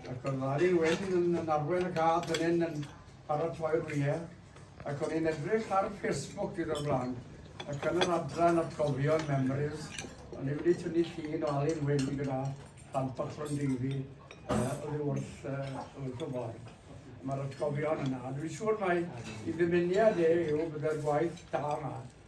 Ac oedd Larry Wyn yn arwain y gad fan hyn yn paratoi'r wyau, ac o'n i'n edrych ar Facebook diwrnod blaen, ac yn yr adran atgofion, memories, o'n i wedi tynnu llun o Alun Wyn gyda plant bach Rondeifi uh, oddi wrth, uh, wrth y ffordd. Mae'r atgofion yna. Dwi'n siŵr mai i ddymuniad e yw byddai'r gwaith da yma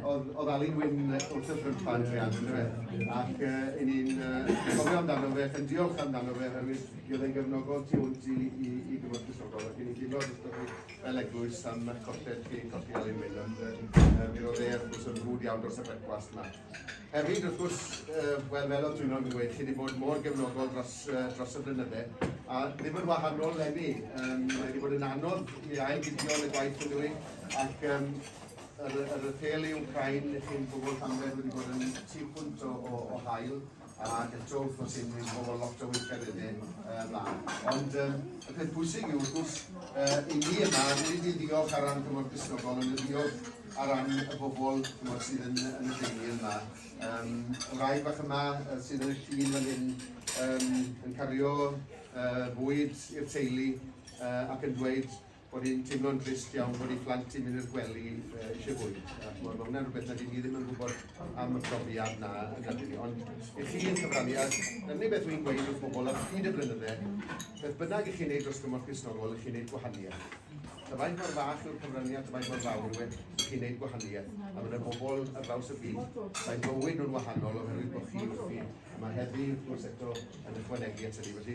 Oedd, oedd Alun Wyn wrth y ffrympan triad, yn dweud, ac uh, i ni'n uh, gofio amdano fe, ac yn diolch amdano fe, oherwydd i oedd e'n gefnogol tu hwnt i, i, i gyfod cysodol, ac i ni'n diolch wrth chi fel eglwys am eich colled chi, colli Alun Wyn, ond uh, mi roedd e, wrth gwrs, yn rhwyd iawn dros y brecwast yma. Hefyd, wrth gwrs, uh, wel, fel oedd dwi'n o'n dweud, chi wedi bod mor gefnogol dros, uh, dros y blynydde, a ddim yn wahanol lenni. Um, mae wedi bod yn anodd i ail fideo yn y gwaith yn dweud, ac um, Yr, yr apêl yw cael i chi'n gwybod pan beth wedi bod yn tu hwnt o, o, o hael ac eto wrth gwrs sy'n mynd bod lot o weithgar yn hyn uh, mlaen. Ond um, y peth bwysig yw wrth gwrs uh, i ni yma, nid i ddiolch ar ran Cymru Cristnogol, ond i ddiolch ar ran y bobl cymod, sydd yn, yn y deulu yma. Um, y rai bach yma uh, sydd yn y tîm yn hyn um, yn cario uh, bwyd i'r teulu uh, ac yn dweud bod hi'n teimlo'n drist iawn bod ei phlant hi'n mynd i'r gwely uh, eisiau bwyd. A chmod, mae hwnna'n rhywbeth na dyn ni ddim yn gwybod am y profiad na yn y ni. Ond i chi yn cyfrannu, a dyna ni beth wy'n gweud wrth bobl ar hyd y blynydde, beth bynnag i chi'n neud dros gymorth Crisnogol, i chi'n neud gwahaniaeth. Dyfaint mor fach yw'r cyfraniad, dyfaint mor fawr yw e, i chi'n neud gwahaniaeth. A mae'n y bobl ar draws y byd, mae'n bywyd nhw'n wahanol oherwydd bod chi wrthi. Mae heddi, wrth gwrs, eto yn ychwanegu at hynny. Felly,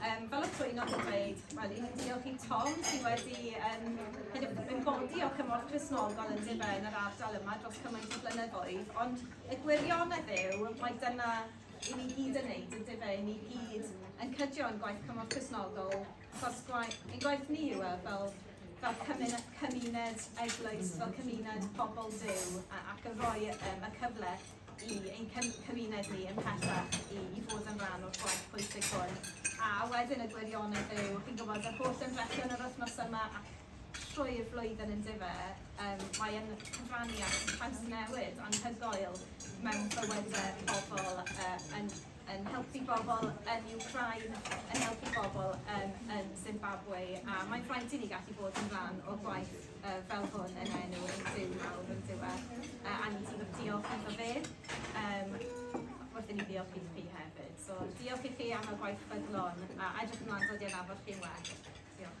Um, fel y Twynog yn dweud, wel, i'n diolch i Tom sydd wedi um, hyd yn yn godi o cymorth Cresnogol yn dibe yn yr ardal yma dros cymaint o flynyddoedd, ond y gwirionedd yw mae dyna i ni gyd yn neud, yn dibe, i ni gyd yn cydio yn gwaith cymorth Cresnogol, achos gwaith, ein gwaith ni yw e, fel fel cymuned, cymuned eglwys, fel cymuned pobl Dyw ac yn rhoi um, y cyfle i ein cymuned ni ymhellach i fod yn rhan o'r gwaith pwysig hwn. A wedyn y gwirionedd yw, chi'n gwybod, yr holl ymdrechion yr wythnos yma ac trwy'r flwyddyn yn dife, um, mae'n cyfrannu at trawsnewid anhygoel mewn bywydau pobl, uh, yn, yn helpu bobl yn Ukraine, yn helpu bobl um, yn Zimbabwe, a mae'n rhaid i ni gallu bod yn rhan o gwaith uh, fel hwn yn enw yn Duw mawr yn Duw uh, a ni'n sort of diolch iddo fe um, wrth i ni ddiolch i chi hefyd. So diolch i chi am y gwaith ffyddlon a edrych ymlaen dod i'n afod chi'n well. Diolch.